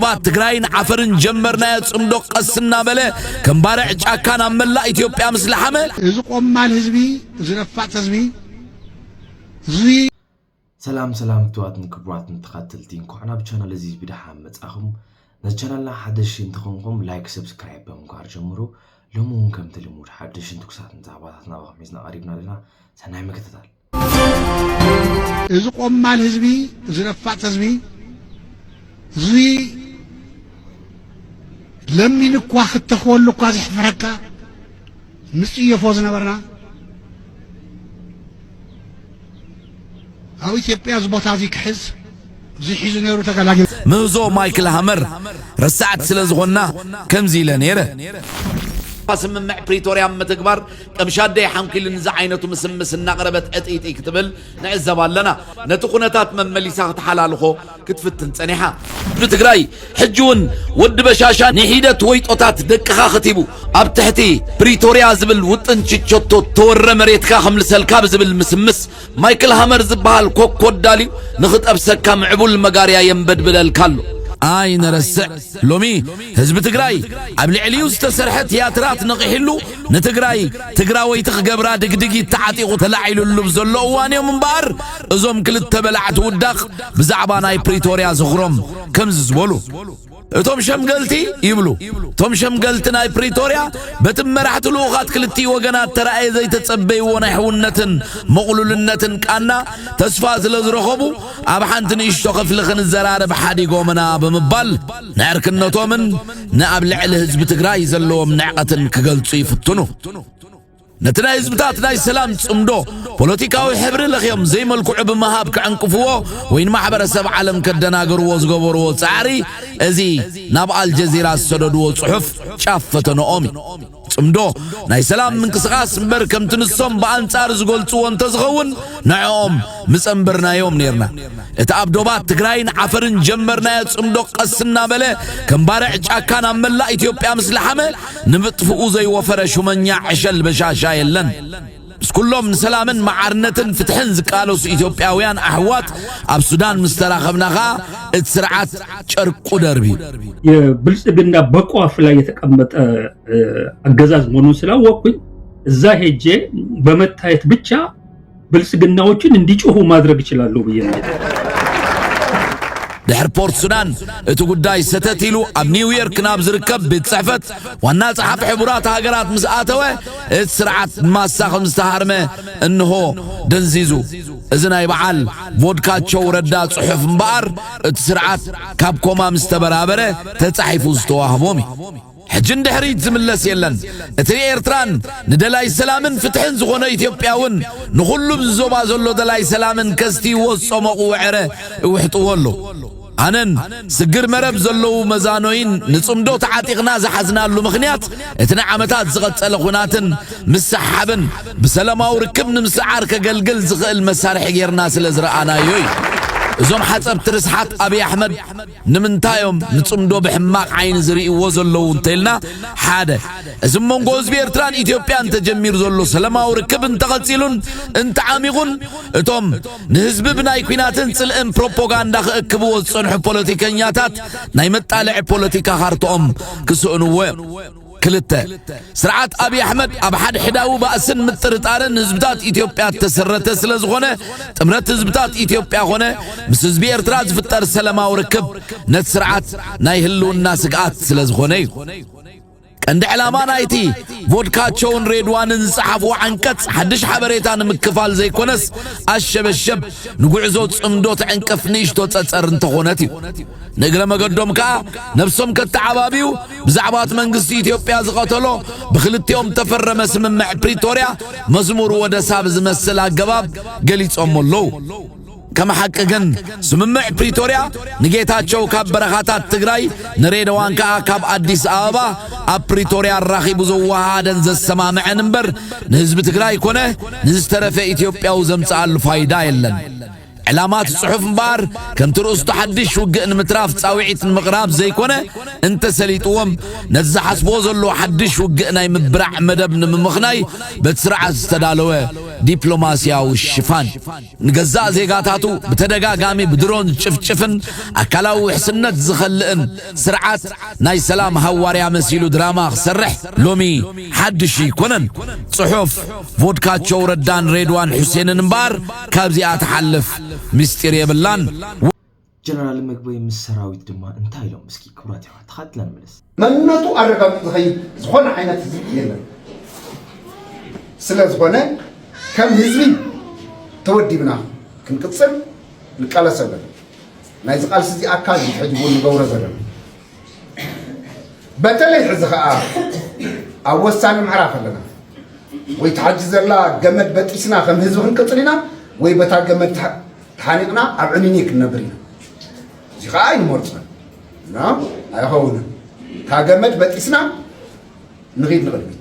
ዶባት ትግራይን ዓፈርን ጀመርናዮ ጽምዶ ቀስ እናበለ ከም ባርዕ ጫካ ናብ መላእ ኢትዮጵያ ምስ ለሓመ እዚ ቆማል ህዝቢ እዚ ነፋጥ ህዝቢ እዚ ሰላም ሰላም ክቱራትን ክቡራትን ተኸተልቲ እንኳዕ ናብ ቻናል እዚ ብደሓን መጻኹም ነዚ ቻናልና ሓደሽቲ እንትኾንኩም ላይክ ሰብስክራይብ ብምግባር ጀምሩ ሎሚ እውን ከምቲ ልሙድ ሓደሽን ትኩሳትን ዛዕባታት ናባኹም ሒዝና ቀሪብና ኣለና ሰናይ ምክትታል እዚ ቆማል ህዝቢ እዚ ነፋጥ ህዝቢ እዚ ለሚን እኳ ክተኽወሉ እኳ ዝሕፍረካ ንጽየፎ ዝነበርና ኣብ ኢትዮጵያ እዚ ቦታ እዚ ክሕዝ ብዙሕ ሒዙ ነይሩ ተጋላጊሉ። ምህዞ ማይክል ሃመር ረሳዕቲ ስለ ዝኾንና ከምዚ ኢለ ነይረ። ስምምዕ ፕሪቶርያ ኣብ ምትግባር ቀምሻደይ ሓንኲልን ዝዓይነቱ ምስምስ እናቕረበት ዕጥይጥይ ክትብል ንዕዘብ ኣለና። ነቲ ኩነታት መመሊሳ ክትሓላልኾ ክትፍትን ጸኒሓ። ብትግራይ ሕጂ እውን ወዲ በሻሻ ንሒደት ወይጦታት ደቅኻ ከቲቡ ኣብ ትሕቲ ፕሪቶርያ ዝብል ውጥን ችቸቶ ተወረ መሬትካ ከምልሰልካ ብዝብል ምስምስ ማይክል ሃመር ዝበሃል ኮኮዳል እዩ ንኽጠብሰካ ምዕቡል መጋርያ የንበድብለልካ ኣሎ። ኣይንረስዕ ሎሚ ህዝቢ ትግራይ ኣብ ልዕሊኡ ዝተሰርሐ ትያትራት ነቒሕሉ ንትግራይ ትግራወይቲ ክገብራ ድግድጊት ተዓጢቑ ተላዒልሉ ብ ዘሎ እዋን እዮም እምበኣር እዞም ክልተ በላዕቲ ውዳቕ ብዛዕባ ናይ ፕሪቶርያ ዝኽሮም ከምዚ ዝበሉ እቶም ሸምገልቲ ይብሉ እቶም ሸምገልቲ ናይ ፕሪቶርያ በቲ መራሕቲ ልኡኻት ክልቲኡ ወገናት ተረኣየ ዘይተጸበይዎ ናይ ሕውነትን ምቕሉልነትን ቃና ተስፋ ስለ ዝረኸቡ ኣብ ሓንቲ ንእሽቶ ክፍሊ ክንዘራረብ ሓዲጎምና ብምባል ንዕርክነቶምን ንኣብ ልዕሊ ህዝቢ ትግራይ ዘለዎም ንዕቐትን ክገልጹ ይፍትኑ። ነቲ ናይ ህዝብታት ናይ ሰላም ጽምዶ ፖለቲካዊ ሕብሪ ለኽዮም ዘይመልክዑ ብምሃብ ክዕንቅፍዎ ወይ ንማሕበረሰብ ዓለም ከደናገርዎ ዝገበርዎ ጻዕሪ እዚ ናብ ኣልጀዚራ ዝሰደድዎ ጽሑፍ ጫፍ ፈተነኦም እዩ። ጽምዶ ናይ ሰላም ምንቅስቓስ እምበር ከምቲ ንሶም ብኣንጻር ዝገልጽዎ እንተዝኸውን ንዕኦም ምጸንበርናዮም ነርና። እቲ ኣብ ዶባት ትግራይን ዓፈርን ጀመርናዮ ጽምዶ ቀስ እናበለ ከም ባርዕ ጫካ ናብ መላእ ኢትዮጵያ ምስ ለሓመ ንምጥፍኡ ዘይወፈረ ሹመኛ ዕሸል በሻሻ የለን። ምስ ኩሎም ንሰላምን መዓርነትን ፍትሕን ዝቃለሱ ኢትዮጵያውያን ኣሕዋት ኣብ ሱዳን ምስ ተራኸብና ከኣ እቲ ስርዓት ጨርቁ ደርቢዩ። የብልጽግና በቋፍ ላይ የተቀመጠ አገዛዝ መሆኑን ስላወቅኩኝ እዛ ሄጄ በመታየት ብቻ ብልጽግናዎችን እንዲጮሁ ማድረግ እችላለሁ ብዬ ነው። ድሕሪ ፖርት ሱዳን እቲ ጉዳይ ሰተት ኢሉ ኣብ ኒውዮርክ ናብ ዝርከብ ቤት ጽሕፈት ዋና ጸሓፊ ሕቡራት ሃገራት ምስ ኣተወ እቲ ስርዓት ማሳ ከም ዝተሃርመ እንሆ ደንዚዙ። እዚ ናይ በዓል ቮድካቸው ረዳ ጽሑፍ እምበኣር እቲ ስርዓት ካብ ኮማ ምስ ተበራበረ ተጻሒፉ ዝተዋህቦም እዩ። ሕጂ ንድሕሪት ዝምለስ የለን። እቲ ንኤርትራን ንደላይ ሰላምን ፍትሕን ዝኾነ ኢትዮጵያውን ንኹሉ ኣብዚ ዞባ ዘሎ ደላይ ሰላምን ከስትይዎ ዝጸሞቕዎ ዕረ እውሕጥዎ ኣለዉ። ኣነን ስግር መረብ ዘለዉ መዛኖይን ንጽምዶ ተዓጢቕና ዝሓዝናሉ ምኽንያት እቲ ንዓመታት ዝቐጸለ ኩናትን ምስሕሓብን ብሰለማዊ ርክብ ንምስዓር ከገልግል ዝኽእል መሳርሒ ጌርና ስለ ዝረኣናዮ እዩ። እዞም ሓጸብቲ ርስሓት ኣብይ ኣሕመድ ንምንታይ እዮም ንጽምዶ ብሕማቕ ዓይኒ ዝርእይዎ ዘለዉ እንተልና፣ ሓደ እዚ ኣብ መንጎ ህዝቢ ኤርትራን ኢትዮጵያን ተጀሚሩ ዘሎ ሰለማዊ ርክብ እንተቐጺሉን እንተዓሚቑን እቶም ንህዝቢ ብናይ ኩናትን ጽልእን ፕሮፖጋንዳ ክእክብዎ ዝጸንሑ ፖለቲከኛታት ናይ መጣልዒ ፖለቲካ ካርትኦም ክስእንዎ እዮም። ክልተ፣ ስርዓት ኣብዪ ኣሕመድ ኣብ ሓድሕዳዊ ባእስን ምጥርጣርን ህዝብታት ኢትዮጵያ እተሰረተ ስለ ዝኾነ ጥምረት ህዝብታት ኢትዮጵያ ኾነ ምስ ህዝቢ ኤርትራ ዝፍጠር ሰላማዊ ርክብ ነቲ ስርዓት ናይ ህልውና ስግኣት ስለ ዝኾነ እዩ። ቀንዲ ዕላማ ናይቲ ቮድካቸውን ሬድዋንን ዝጸሓፍዎ ዓንቀጽ ሓድሽ ሓበሬታ ንምክፋል ዘይኮነስ ኣሸበሸብ ንጉዕዞ ጽምዶ ትዕንቅፍ ንእሽቶ ጸጸር እንተኾነት እዩ። ንእግረ መገዶም ከኣ ነብሶም ከተዓባብዩ ብዛዕባ እቲ መንግስቲ ኢትዮጵያ ዝቐተሎ ብክልቲኦም እተፈረመ ስምምዕ ፕሪቶርያ መዝሙር ወደሳ ብዝመስል ኣገባብ ገሊጾሞ ኣለዉ። ከም ሓቂ ግን ስምምዕ ፕሪቶርያ ንጌታቸው ካብ በረኻታት ትግራይ ንሬደዋን ከኣ ካብ ኣዲስ ኣበባ ኣብ ፕሪቶርያ ኣራኺቡ ዘወሃሃደን ዘሰማምዐን እምበር ንህዝቢ ትግራይ ኮነ ንዝተረፈ ኢትዮጵያዊ ዘምጽኣሉ ፋይዳ የለን። ዕላማ እቲ ጽሑፍ እምበኣር ከምቲ ርእስቱ ሓድሽ ውግእ ንምትራፍ ጻውዒት ንምቕራብ ዘይኮነ፣ እንተሰሊጥዎም ነቲ ዝሓስብዎ ዘለዉ ሓድሽ ውግእ ናይ ምብራዕ መደብ ንምምኽናይ በቲ ስርዓት ዝተዳለወ ዲፕሎማስያዊ ሽፋን፣ ንገዛእ ዜጋታቱ ብተደጋጋሚ ብድሮን ዝጭፍጭፍን ኣካላዊ ውሕስነት ዝኸልእን ስርዓት ናይ ሰላም ሃዋርያ መሲሉ ድራማ ክሰርሕ ሎሚ ሓድሽ እይኮነን። ጽሑፍ ቮድካቸው ረዳን ሬድዋን ሑሴንን እምበኣር፣ ካብዚኣ ትሓልፍ ምስጢር የብላን። ጀነራል ምግበይ ምስ ሰራዊት ድማ እንታይ ኢሎም እስኪ ክቡራት የሕዋት ተኻትልና ንመለስ። መንነቱ ኣረጋጊፁ ዝኸይድ ዝኾነ ዓይነት ህዝቢ የለን። ስለዝኾነ ከም ህዝቢ ተወዲብና ክንቅፅል ንቃለሰሉ ኣለና። ናይዚ ቃልሲ እዚ ኣካል እዩ ሕዚ እውን ንገብሮ ዘለና። በተለይ ሕዚ ከኣ ኣብ ወሳኒ ምዕራፍ ኣለና ወይ ተሓጂ ዘላ ገመድ በጢስና ከም ህዝቢ ክንቅፅል ኢና ወይ በታ ገመድ ተሓኒቕና ኣብ ዕኒኒ ክንነብር ኢና እዚ ከዓ ኣይንመርፆን እና ኣይኸውንን እታ ገመድ በጢስና ንኺድ ንቕድሚት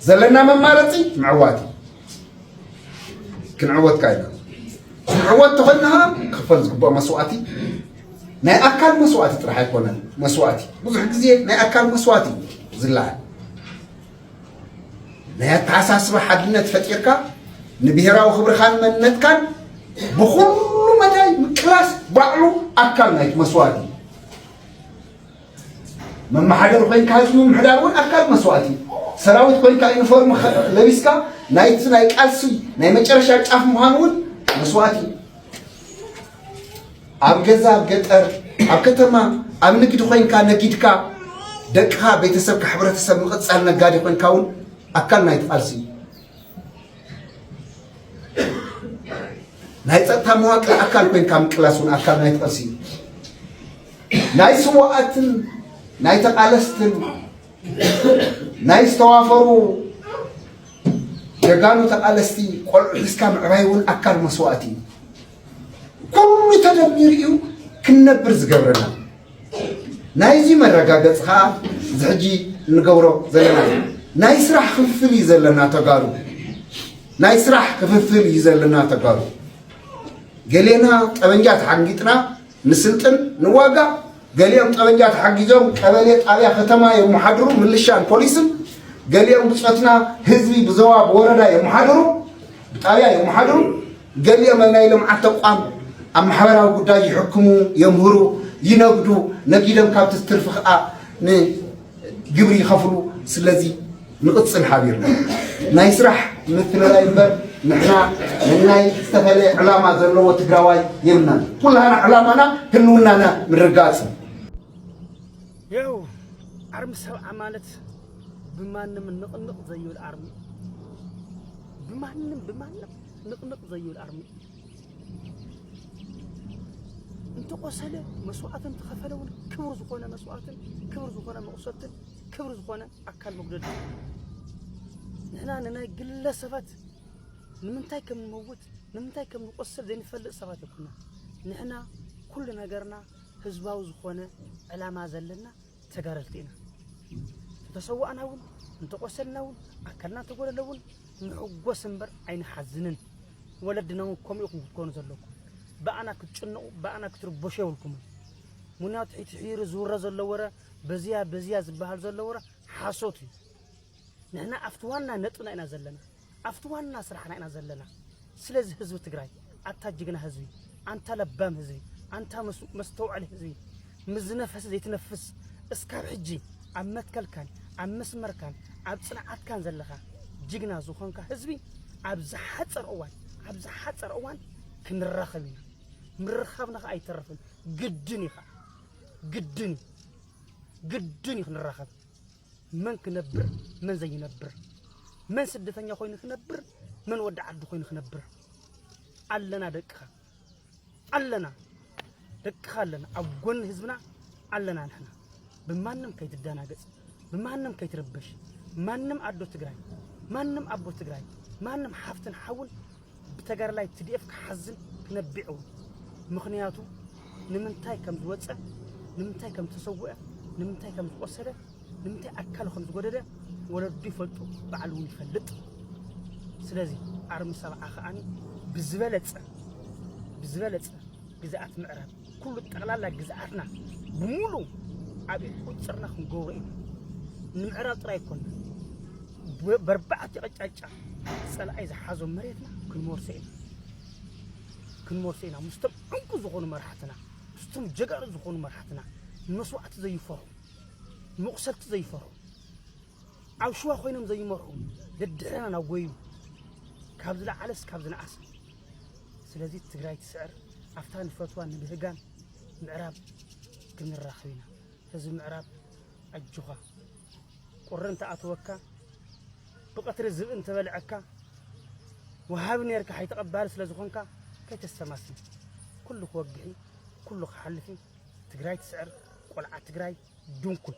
ዘለና መማረፂ ምዕዋት እዩ ክንዕወት ከኣ ኢና ክንዕወት ተኾይና ኸኣ ክኽፈል ዝግብኦ መስዋእቲ ናይ ኣካል መስዋእቲ ጥራሕ ኣይኮነን መስዋእቲ ብዙሕ ግዜ ናይ ኣካል መስዋእቲ እዩ ዝለዓል ናይ ኣተሓሳስባ ሓድነት ፈጢርካ ንብሄራዊ ክብርኻን መንነትካን ብኩሉ መዳይ ምቅላስ ባዕሉ ኣካል ናይቲ መስዋእቲ እዩ መመሓደሪ ኮይንካ ህዝቢ ምምሕዳር እውን ኣካል መስዋእቲ እዩ። ሰራዊት ኮይንካ ዩኒፎርም ለቢስካ ናይቲ ናይ ቃልሲ ናይ መጨረሻ ጫፍ ምዃን እውን መስዋእቲ እዩ። ኣብ ገዛ ኣብ ገጠር ኣብ ከተማ ኣብ ንግዲ ኮይንካ ነጊድካ ደቅኻ ቤተሰብካ ሕብረተሰብ ምቕፃል ነጋዴ ኮይንካ እውን ኣካል ናይቲ ቃልሲ እዩ። ናይ ፀጥታ መዋቅር ኣካል ኮይንካ ምቅላስ እውን ኣካል ናይ ተቐልሲ እዩ ናይ ስዋኣትን ናይ ተቓለስትን ናይ ዝተዋፈሩ ጀጋኑ ተቓለስቲ ቆልዑ ሒዝካ ምዕባይ እውን ኣካል መስዋእቲ እዩ ኩሉ ተደሚሩ እዩ ክንነብር ዝገብረና ናይዚ መረጋገፂ ከዓ እዚ ሕጂ እንገብሮ ዘለና እዩ ናይ ስራሕ ክፍፍል እዩ ዘለና ተጋሩ ናይ ስራሕ ክፍፍል እዩ ዘለና ተጋሩ ገሌና ጠበንጃ ተሓንጊጥና ንስልጥን ንዋጋእ ገሊኦም ጠበንጃ ተሓጊዞም ቀበሌ ጣብያ ከተማ የመሓድሩ ምልሻን ፖሊስን ገሊኦም ብፆትና ህዝቢ ብዞባ ብወረዳ የመሓድሩ ብጣብያ የመሓድሩ ገሊኦም ኣብ ናይ ልምዓት ተቋም ኣብ ማሕበራዊ ጉዳይ ይሕክሙ የምህሩ ይነግዱ ነጊዶም ካብቲ ዝትርፊ ከዓ ን ግብሪ ይኸፍሉ ስለዚ ንቕፅል ሓቢርና ናይ ስራሕ ምትልላይ እምበር ንሕና ንናይ ዝተፈለየ ዕላማ ዘለዎ ትግራዋይ የብልናን ኩላና ዕላማና ህልውናና ምርጋፅ ይው ኣርሚ ሰብዓ ማለት ብማንም ንቕንቕ ዘይብል ኣርሚ ብማንም ብማንም ንቕንቕ ዘይብል ኣርሚ እንተቆሰለ መስዋእትን እንተኸፈለ እውን ክብር ዝኾነ መስዋእትን ክብር ዝኾነ መቑሰልትን ክብር ዝኾነ ኣካል መጉደል ንሕና ንናይ ግለሰባት ንምንታይ ከም ንመውት ንምንታይ ከም ንቆሰል ዘይንፈልጥ ሰባት ይኩና ንሕና ኩሉ ነገርና ህዝባዊ ዝኾነ ዕላማ ዘለና ተጋደልቲ ኢና እንተሰዋእና እውን እንተቆሰልና እውን ኣካልና እንተጎደለ እውን ንሕጎስ እምበር ኣይንሓዝንን ወለድና እውን ከምኡ ኢኹም ክትኮኑ ዘለኩም ብኣና ክትጭንቑ ብኣና ክትርበሹ የብልኩምን ምክንያቱ ሕቲ ሕይሪ ዝውረ ዘሎ ወረ በዚያ በዚያ ዝበሃል ዘሎ ወረ ሓሶት እዩ ንሕና ኣብቲ ዋና ነጥብና ኢና ዘለና ኣብቲ ዋና ስራሕና ኢና ዘለና ስለዚ ህዝቢ ትግራይ ኣታ ጅግና ህዝቢ ኣንታ ለባም ህዝቢ ኣንታ መስተውዐሊ ህዝቢ ምዝነፈስ ዘይትነፍስ እስካብ ሕጂ ኣብ መትከልካን ኣብ መስመርካን ኣብ ፅንዓትካን ዘለኻ ጅግና ዝኾንካ ህዝቢ ኣብ ዝሓፀር እዋን ኣብ ዝሓፀር እዋን ክንራኸብ ኢና ምርኻብና ከዓ ኣይተረፍን ግድን እዩ ከዓ ግድን እዩ ግድን እዩ ክንራኸብ መን ክነብር መን ዘይነብር፣ መን ስደተኛ ኮይኑ ክነብር መን ወዲ ዓዲ ኮይኑ ክነብር ኣለና። ደቅኻ ኣለና፣ ደቅኻ ኣለና፣ ኣብ ጎኒ ህዝብና ኣለና። ንሕና ብማንም ከይትደናገጽ፣ ብማንም ከይትርበሽ፣ ማንም ኣዶ ትግራይ፣ ማንም ኣቦ ትግራይ፣ ማንም ሓፍትን ሓውን ብተጋዳላይ ትዲኤፍ ክሓዝን ክነቢዕ እውን ምኽንያቱ ንምንታይ ከም ዝወፀ ንምንታይ ከም ዝተሰውአ ንምንታይ ከም ዝቆሰለ ንምንታይ ኣካሉ ከም ዝጎደለ ወለዱ ይፈልጡ በዓሉ እውን ይፈልጥ ስለዚ ኣርሚ ሰብዓ ከዓኒ ብዝበለፀ ብዝበለፀ ግዝኣት ምዕራብ ኩሉ ጠቕላላ ግዝኣትና ብሙሉ ኣብ ቁፅርና ክንገብሮ ኢና ንምዕራብ ጥራይ ኮና በርባዕቲ ቀጫጫ ፀላኣይ ዝሓዞ መሬትና ክንመርሶ ኢና ክንመርሶ ኢና ምስቶም ዕንቁ ዝኾኑ መራሕትና ምስቶም ጀጋኑ ዝኾኑ መራሕትና ንመስዋእቲ ዘይፈርሑ ንመቑሰልቲ ዘይፈርሑ ኣብ ሽዋ ኮይኖም ዘይመርሑ ደድሕረና ናብ ጎዩ ካብ ዝለዓለስ ካብ ዝነኣሰ ስለዚ ትግራይ ትስዕር ኣብታ ንፈትዋ ንብህጋን ምዕራብ ክንራኸብ ኢና ህዝቢ ምዕራብ ኣጆኻ ቁሪ እንተኣተወካ ብቐትሪ ዝብኢ እንተበልዐካ ወሃቢ ነርካ ሓይ ተቐባሊ ስለ ዝኾንካ ከይተሰማስም ኩሉ ክወግሒ ኩሉ ክሓልፊ ትግራይ ትስዕር ቆልዓ ትግራይ ድንኩል